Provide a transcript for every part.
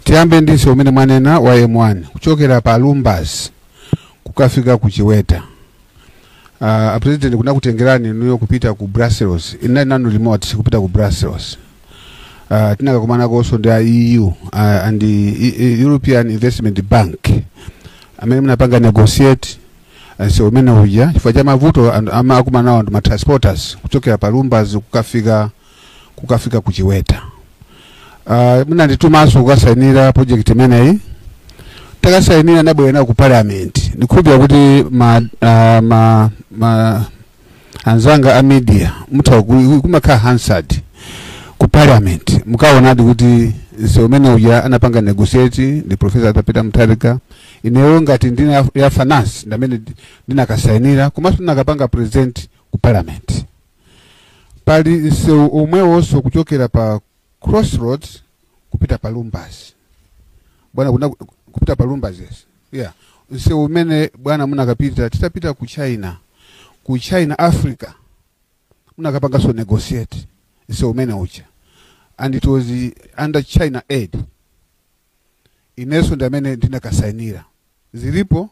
Tiyambe ndi msewu umene mwanena wa M1 kuchokera pa Lumbadzi kukafika ku Chiweta. Uh, a president kunakutengerani inuyo kupita ku Brussels, ine ndinali momwemo kupita ku Brussels. Uh, tinakakumana konso ndi a EU uh, and the E- E- European Investment Bank amene munapanga negotiate msewu umene uja chifukwa cha mavuto anthu ama- akumanawo ndi matransporters kuchokera pa Lumbas kukafika kukafika ku chiweta uh, munanditumanso kukasayinira project imeneyi takasayinira ndabwera ku parliament ndikhulupira kuti ma, uh, ma, ma anzanga a media mutha ku- kumakhala hansard ku parliament mukaonadi kuti msewu umene uja anapanga negotiate ndi profesa Arthur Peter Mutharika ineyo ngati nduna ya- ya finance ndamene ndinakasayinira komanso ndinakapanga present ku parliament pali msewu omwewonso kuchokera pa crossroads kupita pa lumbadzi bwana kuna, kupita pa lumbadzi yes yeah msewu umene bwana munakapita titapita ku china ku china africa munakapanganso negotiate msewu umene uja and it was uh, under china aid inenso ndi amene ndinakasainira zilipo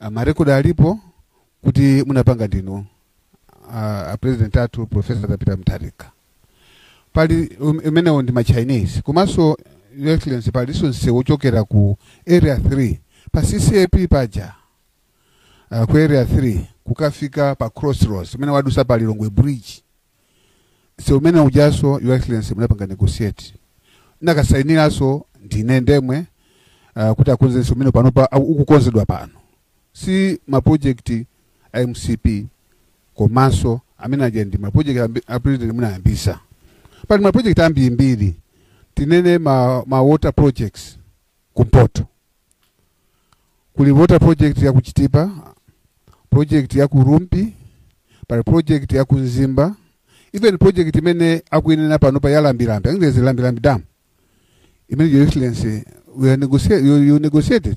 a ma record alipo kuti munapanga ndinu a, a president athu professor Arthur Peter Mutharika pali um- imenewo ndi ma chinese komanso your excellency palinso msewu wochokera ku area 3 pa ccap paja uh, ku area 3 kukafika pa crossroads umene wadusa pa lilongwe bridge msewu umene ujanso your excellency munapanga negotiate nakasainiranso ndine ndemwe uh, kuti akonze msewu umene panopa au- ukukonzedwa pano si mapojekiti a mcp komanso amene aja ndi mapojekiti ambi- a president munayambisa pali mapojekiti ambirimbiri tinene ma, ma water projects Ku mpoto kuli water project ya ku Chitipa, project ya ku Rumphi, pali project ya ku Mzimba, even project imene akuinena pano pa ya Lambilambi, I think there's a Lambilambi dam imene your excellency we are negotiate, you, you negotiated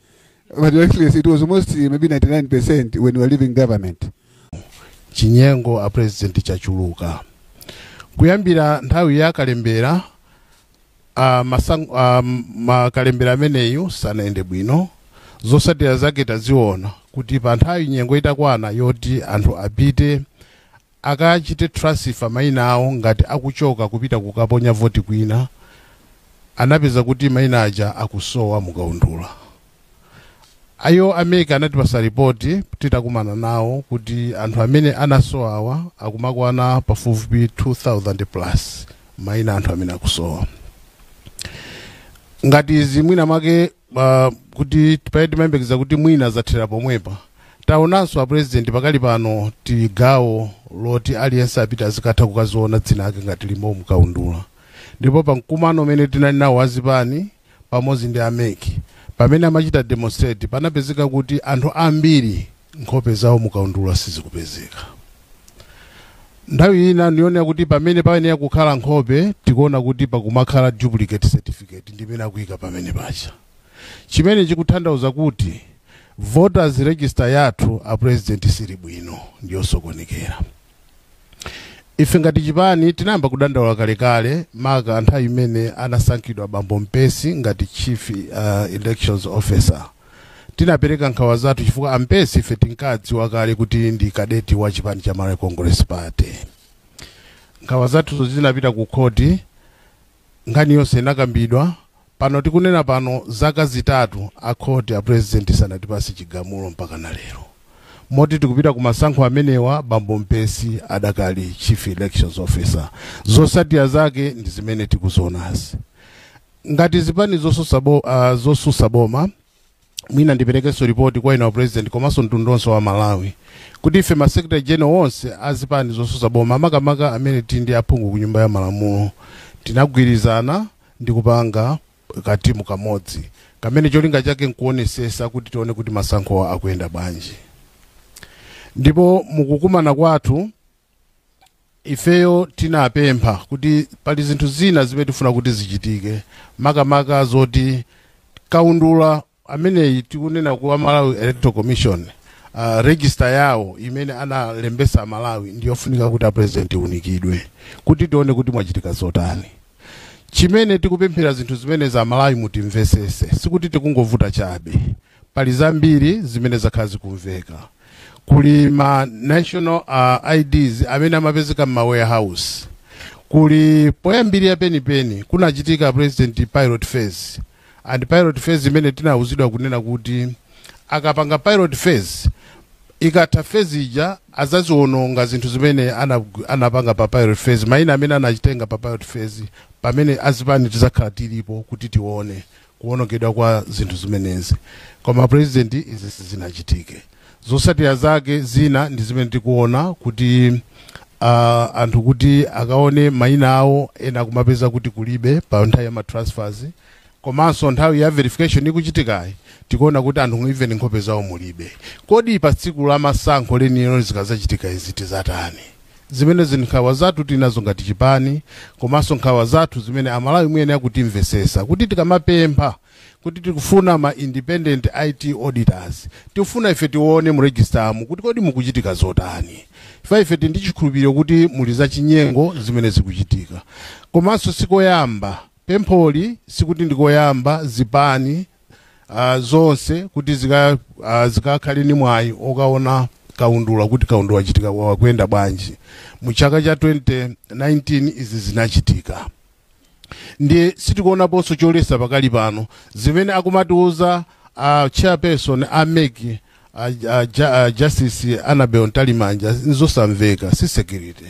But Your Excellency, it was almost uh, maybe 99% when we were leaving government. chinyengo a president chachuluka kuyambira nthawi ya kalembera a masang, a makalembera ameneyu sanayende bwino zotsatira zake taziona kuti pa nthawi nyengo itakwana yoti anthu apite akachite transfer maina awo ngati akuchoka kupita kukaponya voti kwina, anapeza kuti maina aja akusowa mu kaundula. Iwo a mec anatipasa report titakumana nawo kuti anthu amene anasowawa akumakwana pafupifupi 2000 plus maina anthu amene akusowa. Ngati izi mwina mwake uh, kuti pamene timayembekeza kuti mwina zathera pomwepa taonanso apurezidenti pakali pano tili gawo loti aliyense apite azikatha kukaziona dzina lake ngati lilimo mukaundula ndipo pa mkumano umene tinali nawo azipani pamodzi ndi a mec pamene amachita demonstrate panapezeka kuti anthu ambiri nkhope zawo mukaundula sizikupezeka nthawi ina ndiyonena kuti pamene payenera kukhala nkhope tikuona kuti pakumakhala duplicate certificate ndimene akuyika pamene paja chimene chikutanthauza kuti voters register yathu a president siili bwino ndiyosokonekera ife ngati chipani tinayamba kudandaula kalekale maka nthawi imene anasankhidwa bambo mpesi ngati chief uh, elections officer tinapereka nkhawa zathu chifukwa ampesi ife tinkadziwa kale kuti ndi kadeti wa chipani cha malawi congress party nkhawa zathuzo zinapita ku khoti nkhani yonse inakambidwa Pano tikunena pano zaka zitatu a court a president sanatipase chigamulo mpaka na lero moti tikupita ku masankho amenewa bambo mpesi adakali chief elections officer zosatira zake ndi zimene tikuzionazi ngati zipani zosusa bo, uh, zosusa boma mwina ndiperekenso ripoti kwa inu a president komanso mtundu onse wa malawi kuti ife masecretary general onse azipani zosusa boma makamaka amene tili ndi aphungu ku nyumba ya malamulo tinagwirizana ndi kupanga katimu kamodzi kamene cholinga chake nkuonesesa kuti tione kuti masankhowa akuyenda bwanji ndipo mukukumana kwathu ifeyo tinapempha kuti pali zinthu zina zimene tifuna kuti zichitike makamaka zoti kaundula ameneyi tikunena kwa malawi electoral commission uh, register yawo imene analembesa amalawi ndiyofunika kuti a president aunikidwe kuti tione kuti mwachitika zotani chimene tikupemphera zinthu zimenezi amalawi mutimvesese sikuti tikungovuta chabe pali zambiri zimene zakhala zikumveka kuli ma national uh, ids amene amapezeka mma warehouse kuli poyambirira penipeni kunachitika president pilot phase and pilot phase imene tinawuzidwa kunena kuti akapanga pilot phase ikatha phase ija azaziwononga zinthu zimene ana- anapanga pa pilot phase maina amene anakatenga pa pilot phase pamene azipani tizakhala tilipo kuti tione kuwonongedwa kwa zinthu zimenezi koma president izizi sizinachitike zosatira zake zina ndi zimene tikuona kuti uh, anthu kuti akaone maina awo ena kumapeza kuti kulibe pa nthawi ya matransfers komanso nthawi ya verification ikuchitikayi tikuona kuti anthu even nkhope zawo mulibe kodi pa tsiku la masankho lenilo zikazachitika izi tizatani Zimenezi nkhawa zathu tinazo ngati chipani komanso nkhawa zathu zimene Amalawi muyenera kutimvetsetsa kuti tikamapempha kuti tikufuna ma independent IT auditors, tikufuna ife tione mu registeramu kuti kodi mukuchitika zotani chifukwa ife tili ndi chikhulupiriro kuti muli zachinyengo zimene zikuchitika. Komanso si koyamba, pempholi sikuti ndi koyamba zipani ah, zonse kuti zika- ah, zikakhale ni mwayi okaona kaundula kuti kaundula wachitika akuyenda bwanji mu chaka cha 2019 izi zinachitika ndiye sitikuonaponso cholesa pakali pano zimene akumatiuza uh, chairperson a mec a, a, ja- a justice anabel ntalimanja nzosamveka si security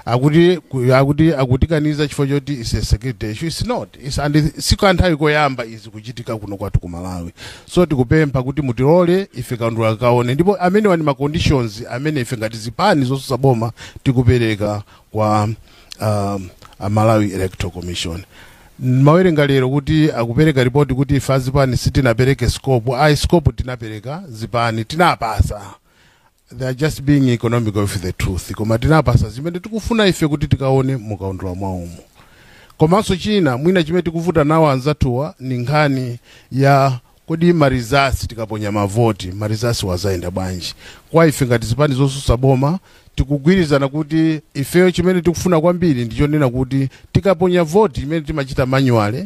akuti ku- akuti akutikaniza chifukwa choti is a security issue it's not it's, and si kanthawi koyamba izi kuchitika kuno kwathu ku malawi so tikupempha kuti mutilole ife kaundula tikaone ndipo amenewa ni ma conditions amene ife ngati zipani zosusa boma tikupereka kwa um, a malawi electoral commission Nimawerenga lero kuti akupereka report kuti ife azipani sitinapereke scope. Ayi scope tinapereka zipani tinawapasa. They are just being economical with the truth. Koma tinawapasa zimene tikufuna ife kuti tikaone mukaundula mwawomu. Komanso china mwina chimene tikuvutana nawo anzathuwa ni nkhani ya Kodi ma results tikaponya mavoti ma results wo azaenda bwanji? Kwa ife ngati zipani zosusa boma tikugwirizana kuti ifeyo chimene tikufuna kwambiri ndi chonena kuti tikaponya voti imene timachita manually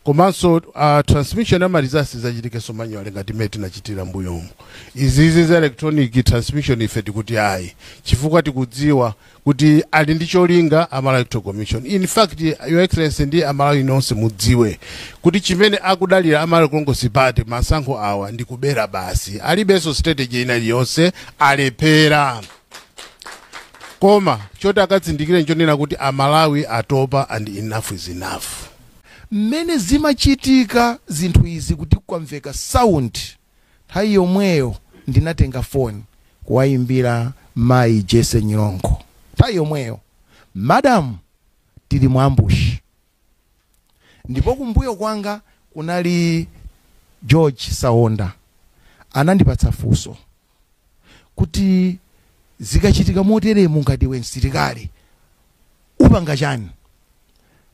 komanso uh, transmission ya ma results izachitikenso manually ngati imene tinachitira mbuyomu. Izizi za electronic transmission ife tikuti ayi chifukwa tikudziwa kuti ali ndi cholinga a Malawi Electoral Commission in fact your excellency ndi a Malawi nonse mudziwe kuti chimene akudalira a Malawi Congress Party masankho awa ndi kubera basi alibenso strategy ina iliyonse alephera koma choti akazindikire nchonena kuti a Malawi atopa and enough is enough mmene zimachitika zinthu izi kuti kwamveka sound Nthawi yomweyo ndinatenga foni kuwayimbira mayi Jessy Nyilongo. Nthawi yomweyo, Madam, tili mu ambush. Ndipo kumbuyo kwanga kunali George Saonda. Anandipatsa funso kuti, Zikachitika moteremu ngati iwe msilikali upanga chani?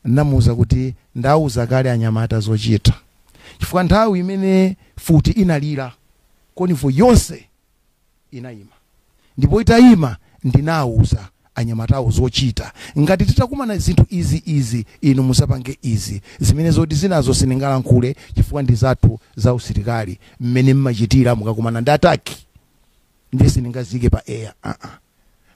Ndinamuuza kuti ndauza kale anyamata zochita chifukwa nthawi imene futi inalira convoy yonse inaima ndipo itaima ndinauza anyamatawo zochita ngati titakumana zinthu izi izi inu muzapange izi zimene zoti zinazo sindingalankhule chifukwa ndizathu zausilikali mmene mmachitira mukakumana ndi attack. ndiye sindingaziike pa air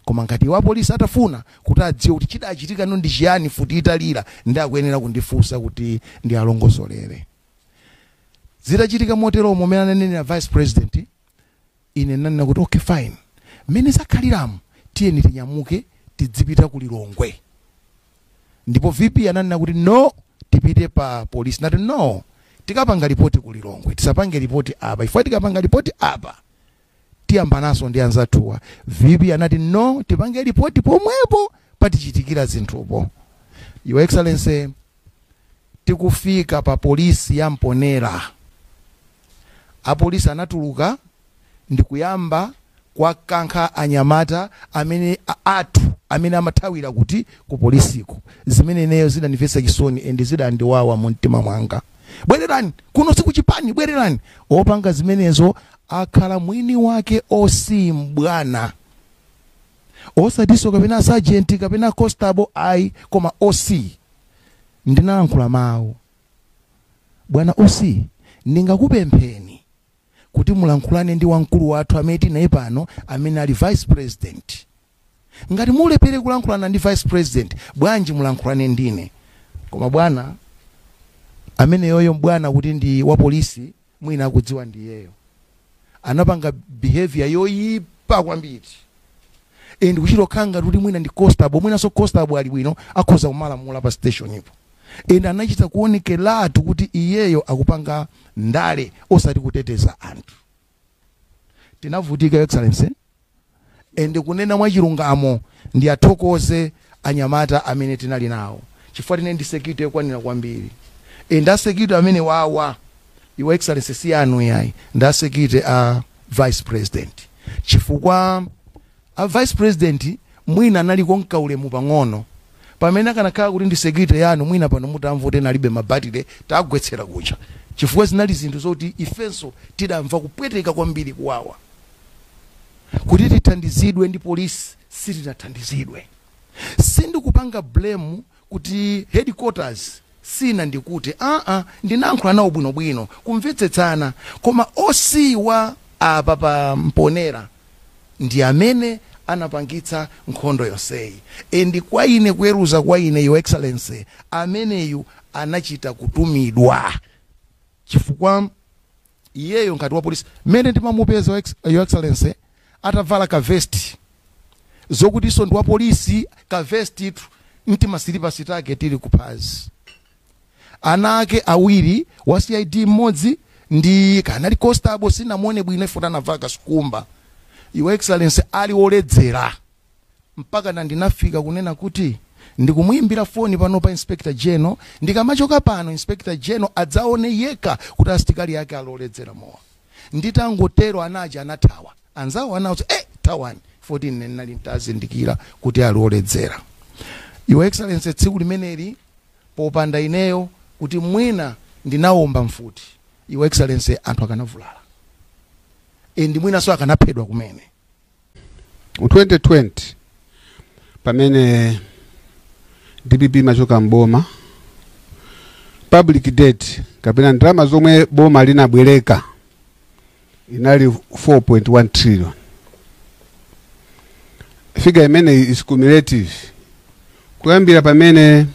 koma ngati apolisi atafuna kuti adziwe kuti chidachitikano ndi chiyani futi italira ndi akuyenera kundifunsa kuti ndiwalongosolere zitachitika motero mmene ananenera vice president ine nanena kuti okay fine mmene zakhaliramu tiyeni tinyamuke tidzipita ku lilongwe ndipo vp ananena kuti no tipite pa polisi nati no tikapanga ripoti ku lilongwe tisapange ripoti apa chifukwa tikapanga ripoti apa tiyambanaso ndi anzathuwa vp anati no tipange lipoti pomwepo patichitikira zinthupo your excellency tikufika pa polisi ya mponera apolisi anatuluka ndikuyamba kuwakankha anyamata amene a- athu amene amathawira kuti ku polisiko zimene ineyo zidandimvetsa chisoni and zidandiwawa mu mtima mwanga bwererani kuno sikuchipani bwererani opanga zimenezo akhala mwini wake oc mbwana osatinso kapena sergeant kapena constable ayi koma oc ndinalankhula mawu bwana oc ndingakupempheni kuti mulankhulane ndi wamkulu wathu amene tinaye pano amene ali vice president Ngati mulephere kulankhulana ndi vice president bwanji mulankhulane ndine? Koma bwana ameneyoyo mbwana kuti ndi wa police mwina akudziwa ndi iyeyo. Anapanga behaviour yoyipa kwambiri and kuchita kukhala ngati kuti mwina ndi constable mwinanso constable ali bwino akhoza kumalamula pa station po and anachita kuonekeratu kuti iyeyo akupanga ndale osati kuteteza anthu. Tinavutika your excellency and kunena mwachilungamo ndiathokoze anyamata amene tinali nawo chifukwa tinali ndi security yokwanira kwambiri and a security amenewawa your excellency si anu yayi ndi a security a vice president chifukwa A vice president mwina analiko ndi kaulemu pang'ono pamene akanakhala kuti ndi security yanu mwina pano mutamva kuti ena alibe mabatire tagwetsera kuja chifukwa zinali zinthu zoti ifenso tidamva kupweteka kwambiri kuwawa kuti tithandizidwe ndi polisi sitinathandizidwe sindikupanga blame kuti headquarters si nandikute aa ndinayankhula nawo bwinobwino kumvetsetsana koma oc wa apapa mponera ndi amene anapangitsa nkhondo yonseyi and kwa ine kuweruza kwa ine your excellency ameneyu anachita kutumidwa chifukwa iyeyo ngati wa polisi mmene ndimamupeza your excellency atavala ka vest zokuti so ndi wa police ka vest tu nti ma silipasi take tili ku phazi ana ake awiri wa cid mmodzi ndi kanali constable sinamuone bwino ife atavala ka sukumba your excellency ali oledzera mpaka na ndinafika kunena kuti ndikumuimbira foni pano pa inspector general ndikamachoka pano inspector general adzaone yekha kuti asilikali ake aloledzera mowa Nditangotero anake aja anathawa. Anzawo anawauza, Eh, thawani! 14 ndinali n'tazindikira kuti ali oledzera. Your Excellency, tsiku limeneli popanda ineyo kuti mwina ndinawomba mfuti, Your Excellency, anthu akanavulala and mwinanso akanaphedwa kumene. mu 2020 pamene dpp imachoka mboma public debt kapena ndalama zomwe boma linabwereka inali 4.1 trillion figa imeneyi is cumulative Kuyambira pamene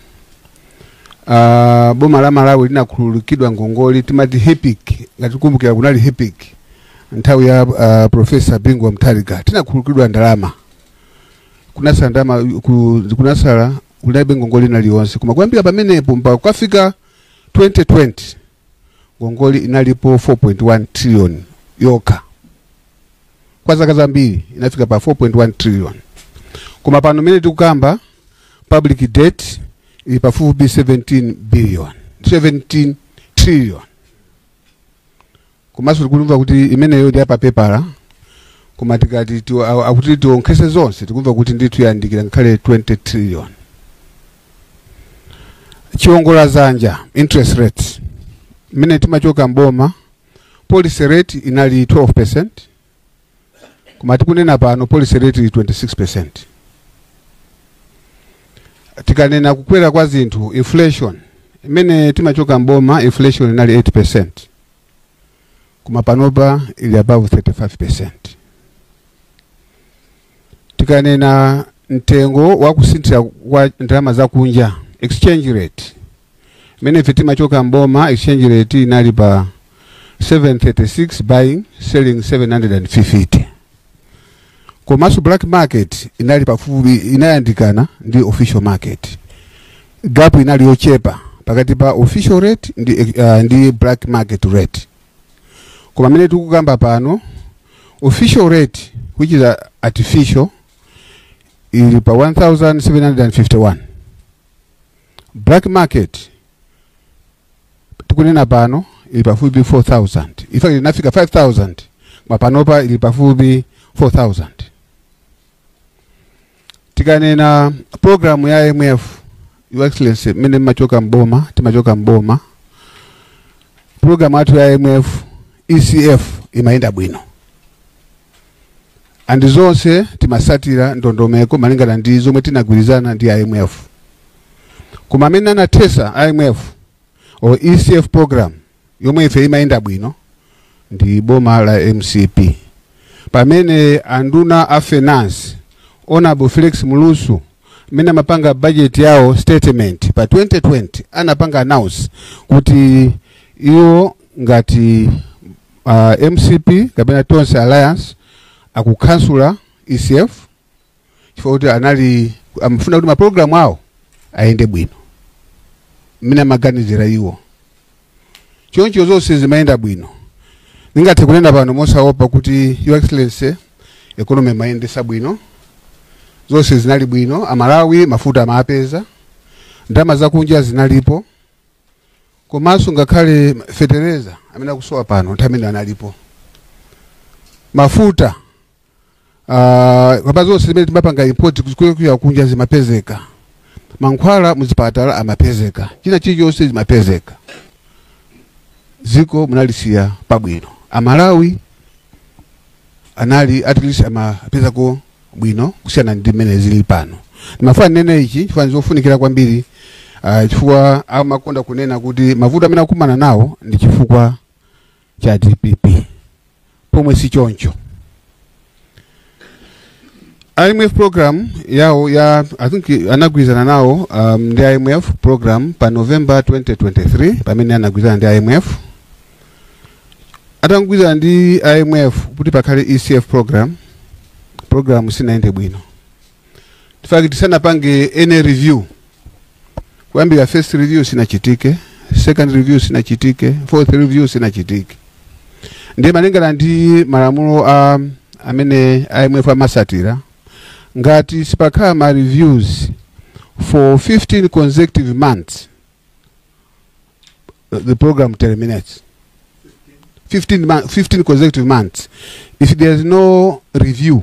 uh, boma la Malawi linakhululukidwa ngongole timati HIPIC ngati mukumbukira kunali HIPIC nthawi ya uh, Professor Bingu wa Mutharika tinakhululukidwa ndalama kunasala ndalama ku- kunasala kunalibe ngongole ina iliyonse koma kuyambira pamenepo mpaka kukafika 2020 ngongole inalipo 4.1 trillion yokha kwa zaka zambiri inafika pa 4.1 trillion koma pano mene tikukamba public debt ili pafupi 17 billion 17 trillion komanso tikumva kuti imeneyo ndi yapapepala koma tikati tiwo- a- akuti tiwonkhetse zonse tikumva kuti ndithu yandikira ngakhale 20 trillion chiongola dzanja interest rates mmene timachoka mboma policy rate inali 12% koma tikunena pano policy rate ili 26% tikanena kukwera kwa zinthu inflation mmene timachoka mboma inflation inali 8% koma panopa ili above 35% tikanena mtengo wa kusinthira kwa ndalama zakunja exchange rate imene ife timachoka mboma exchange rate inali pa 736 buying selling 750 komanso black market inali pafupi inayandikana ndi official market gap inali yochepa pakati pa official rate ndi, uh, ndi black market rate koma mmene tikukamba pano official rate which is artificial ili pa 1751 black market tikunena pano ili pafupi 4000 in fact inafika 5000 koma panopa ili pafupi 4000 tikanena programu ya imf your excellency mmene mmachoka mboma timachoka mboma programu yathu ya imf ecf imayenda bwino and zonse timatsatira ndondomeko malingana ndi zomwe tinagwirizana ndi imf koma amene anathetsa imf or ecf program yomwe ife imayenda bwino ndi boma la mcp pamene anduna a finance honorable felix mlusu mmene amapanga budget yawo statement pa 2020 anapanga announce kuti iwo ngati uh, mcp kapena tonse alliance akukhansula ecf chifukwa kuti anali amafuna kuti mapulogalamu awo ayende bwino mmene amaganizira iwo choncho zonse zimayenda bwino ndingathe kunena pano mosaopa kuti your excellency economy mmayendetsa bwino zonse zinali bwino amalawi mafuta amapeza ndalama zakunja zinalipo komanso ngakhale fetereza amene akusowa pano nthawi imene analipo mafuta Ah, komanso zonse zimene timapanga import kuchokera kunja zimapezeka mankhwala muzipatala amapezeka china chilichonse zimapezeka dziko munalisiya pabwino amalawi anali at least amapezako bwino kusiyana ndi mmene zili pano ndimafuna ndinene ichi chifukwa ndizofunikira kwambiri ah, chifukwa amakonda kunena kuti mavuto amene akumana nawo ndi chifukwa cha dpp pomwe si choncho imf program yawo ya i think anagwirizana nawo um, ndi imf program pa november 2023 pamene anagwirizana ndi imf atagwirizana ndi imf kuti pakhale ecf program program sinayende bwino fact sanapange any review kuyambira first review sinachitike second review sinachitike fourth review sinachitike ndiye malingana ndi malamulo a amene imf amasatira ngati sipakhala ma reviews for 15 consecutive months the program terminates 15, month, 15 consecutive months if there is no review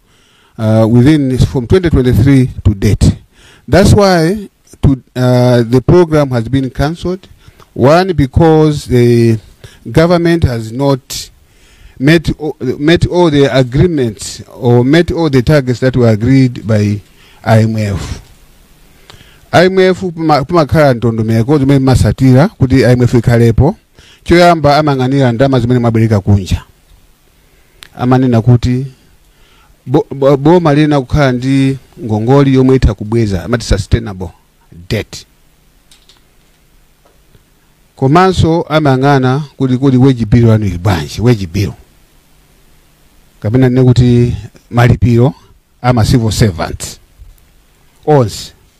uh, within from 2023 to date. That's why to, uh, the program has been cancelled. One, because the government has not met, o- met all the agreements or met all the targets that were agreed by IMF. IMF pamakhala ndondomeko zimene mumatsatira kuti IMF ikhalepo choyamba amayang'anira ndalama zimene mwabwereka kunja amanena kuti bo, bo, boma liyenera kukhala ndi ngongoli yomwe itha kubweza amati sustainable debt komanso amayang'ana kuti kodi wage bill yanu ili bwanji wage bill kapena ndinene kuti malipiro ama civil servants onse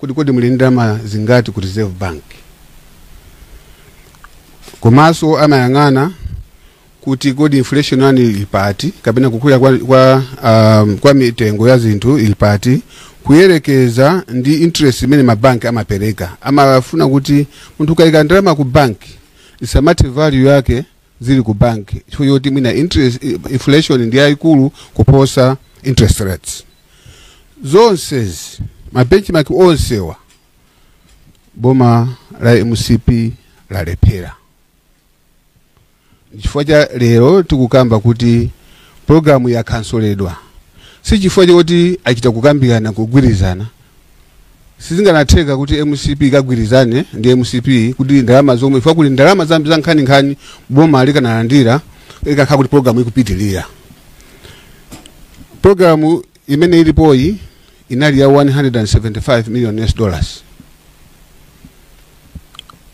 Kodi kodi muli ndalama zingati ku Reserve Bank? Komanso amayang'ana kuti kodi inflation yanu ili pati kapena kukwera kwa, kwa, um, kwa mitengo ya zinthu ili pati kuyerekeza ndi interest imene mabanki amapereka. Amafuna kuti munthu ukayika ndalama ku banki isamathe value yake zili ku bank chifukwa choti mwina interest inflation ndi yayikulu kuposa interest rates zonsezi ma benchmark onsewa boma la mcp lalephera chifukwa chake lero tikukamba kuti programu yakanselidwa si chifukwa choti achita kukambirana kugwirizana Sizikanatheka kuti mcp ikagwirizane ndi mcp kuti ndalama zomwe chifukwa kuli ndalama zambi za nkhaninkhani boma likanalandira ikanakhala kuti programu ikupitirira programu imene ilipoyi inali ya 175 million us dollars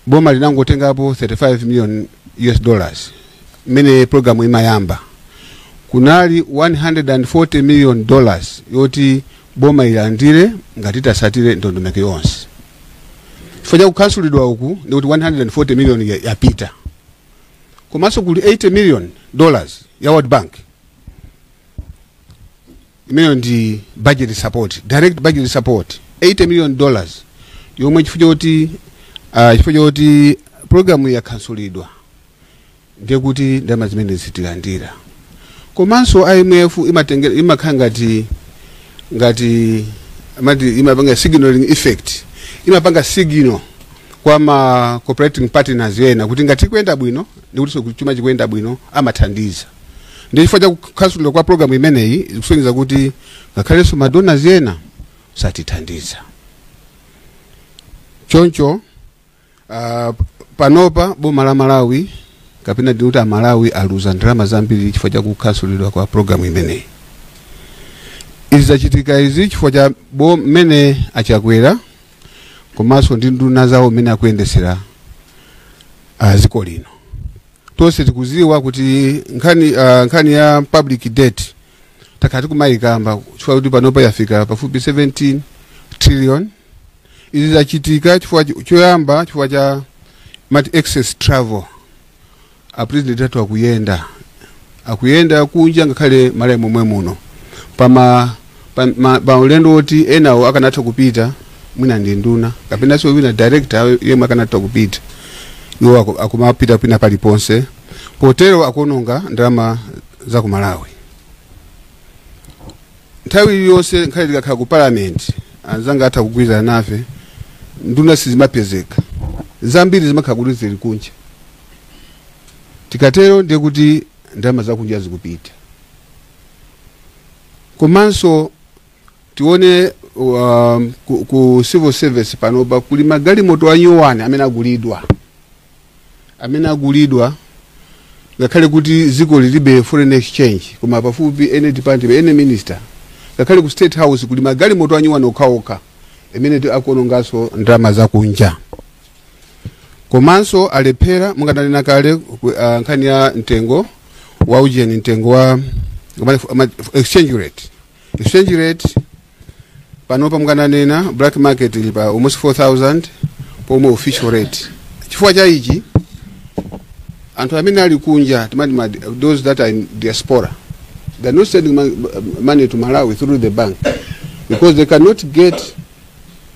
boma linangotengapo 35 million us dollars mmene programu imayamba kunali 140 million dollars yoti boma ilandire ngati itatsatire ndondomeko yonse chifukwa cha kukanselidwa uku ndikuti 140 million yapita komanso kuli 80 million dollars ya world bank imeneyo ndi budget support direct budget support 80 million dollars yomwe chifukwa choti ah, chifukwa choti programu yakansulidwa ndiye kuti ndalama zimenezi sitilandira komanso imf imatengera imakhala ngati ngati amati imapanga signaling effect imapanga signal kwa ma cooperating partners ena kuti ngati ikuyenda bwino ndiye kutinso kuti chuma chikuyenda bwino amathandiza ndiye chifukwa cha kukansulidwa kwa programu imeneyi ikusonyeza kuti ngakhalenso madonors ena satithandiza choncho ah, panopa boma la malawi kapena ndikuti amalawi aluza ndalama zambiri chifukwa cha kukansulidwa kwa programu imeneyi izi zachitika izi chifukwa cha bo- mmene a chakwera komanso ndi nduna zawo mmene akuyendesera ah, dziko lino tonse tikuziwa kuti nkhani, uh, nkhani ya public debt takhala tikumayikamba chifukwa kuti panopa yafika pafupi 17 trillion izi zachitika chifukwa cho- choyamba chifukwa cha amati excess travel a president athu akuyenda akuyenda kunja ngakhale malawi momwe muno pama pa, ma, pa ulendo woti enawo akanatha kupita mwina ndi nduna kapenanso wina director yemwe akanatha kupita iwo aku- akumapita pena paliponse potero akuononga ndalama za ku malawi nthawi iliyonse ngakhale tikakhala ku parliament anzanga atha kugwirizana nafe nduna sizimapezeka zambiri zimakhala kuti zili kunja Tikatero ndiye kuti ndalama zakunja zikupita. Komanso tione um, ku, ku civil service panopa kuli magalimoto anyowani amene agulidwa amene agulidwa ngakhale kuti dziko lilibe foreign exchange koma pafupi any department any minister ngakhale ku state house kuli magalimoto anyowani okhaokha imene akuononganso ndalama zakunja komanso alephera mmene ndanena kale ku- ah, nkhani ya mtengo wa ujeni mtengo wa ama- ama- exchange rate exchange rate panopa mmene ananena black market ili pa almost 4000 pomwe official rate chifukwa cha ichi anthu amene ali kunja timati ma- those that are in diaspora they're not sending mon- money to malawi through the bank because they cannot get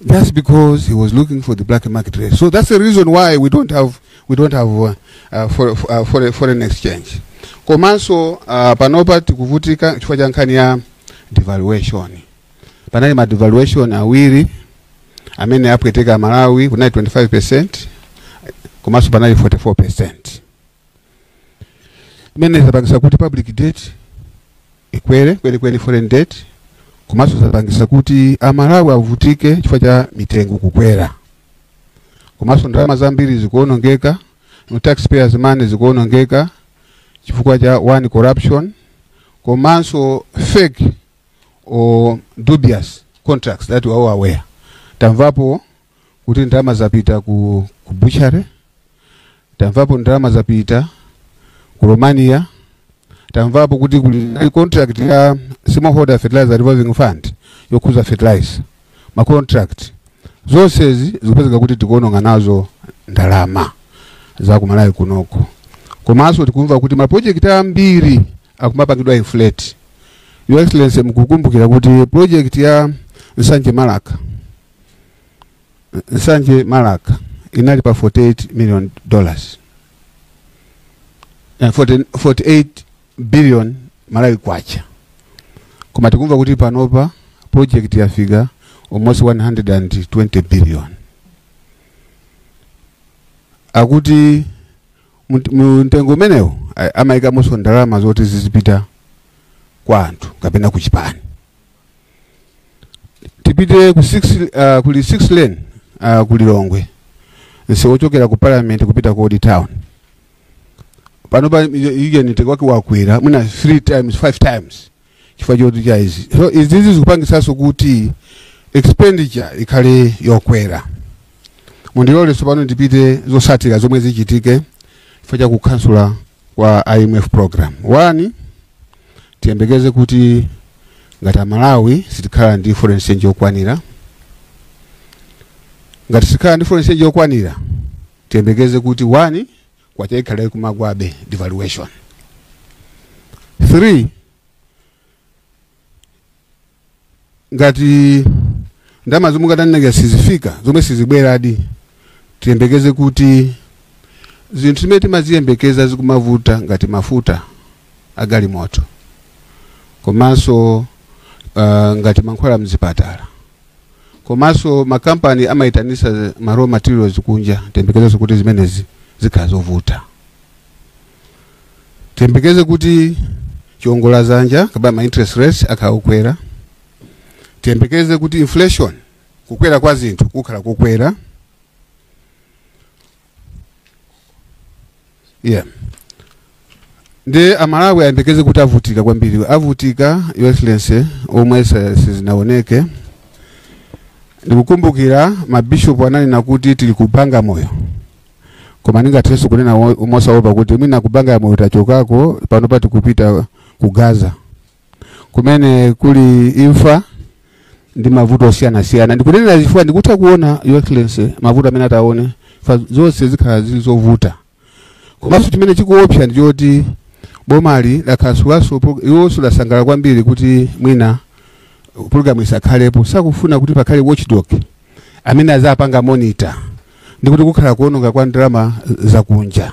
That's because he was looking for the black market rate. So that's the reason why we don't have we don't have uh, uh, for, for, uh, for, foreign exchange. Komanso uh, panopa tikuvutika chifukwa cha nkhani ya devaluation. Panali ma devaluation awiri amene apweteka Malawi kunali 25% komanso panali 44%. imene zapangisa kuti public debt ikwere kwenikweni foreign debt komanso zapangisa kuti amalawi avutike chifukwa cha mitengo kukwera komanso ndalama zambiri zikuonongeka no taxpayers money zikuonongeka chifukwa cha one corruption komanso fake or dubious contracts that we are all aware tamvapo kuti ndalama zapita ku, ku butchery tamvapo ndalama zapita ku romania tamvapo kuti kuli ndi contract ya smallholder fertilizer revolving fund yokhuza fertilizer ma contract zonsezi zikupezeka kuti tikuononga nazo ndalama za kumalawi kunoko komanso tikumva kuti mapulojekiti ambiri akumapangidwa inflate your excellency mukukumbukira kuti project ya nsanje Marka nsanje Marka inali pa 48 million dollars eh, 48 billion malawi kwacha koma tikumva kuti panopa project yafika almost 120 billion akuti mt- mtengo umenewo a- amaikamonso ndalama zoti zizipita kwa anthu kapena ku chipani tipite ku six, uh, kuli six lane uh, ku lilongwe msewu ochokera ku parliament kupita ku old town panopa mtengo wake wakwera mwina three times five times chifukwa choti cha izi so izizi zikupangisanso kuti expenditure ikhale yokwera mundilole tsopano ndipite zosatira zomwe zichitike chifukwa cha kukansula kwa IMF program. One, tiyembekeze kuti ngati amalawi sitikhala ndi foreign exchange yokwanira ngati sitikhala ndi foreign exchange yokwanira tiyembekeze kuti one kwacha ikhala ikumagwabe devaluation three ngati ndalama zomwe ndatanena sizifika zomwe sizibweradi tiyembekeze kuti zinthu zimene timaziyembekeza zikhala zikumavuta ngati mafuta agalimoto komanso uh, ngati mankhwala mzipatala komanso makampani amayitanisa ma raw materials kunja tiyembekezenso kuti zimenezi zikhala zovuta tiyembekeze kuti chiongola zanja kapena ma interest rates akhala kukwera tiyembekeze kuti inflation kukwera kwa zinthu kukhala kukwera yeah nde amalawi ayembekeze kuti avutika kwambiri avutika your excellency omwe sa- sizinaoneke ndikukumbukira mabishopu ananena kuti tili ku Bagamoyo koma ndingathenso kunena mosaopa kuti mwina Kubanga ya Moyo tachokako panopa tikupita ku Gaza kumene kuli imfa ndi mavuto osiyanasiyana ndikunenera chifukwa ndikutha kuona Your Excellency mavuto amene ataone if zonse zikhala zili zovuta komanso chimene chikuopsa ndi choti bomali lakhasulanso iwonso asangalala kwambiri kuti mwina pulogalamu isakhalepo sakufuna kuti pakhale watchdog amene azapanga monitor ndi kuti kukhala kuononga kwa ndalama zakunja.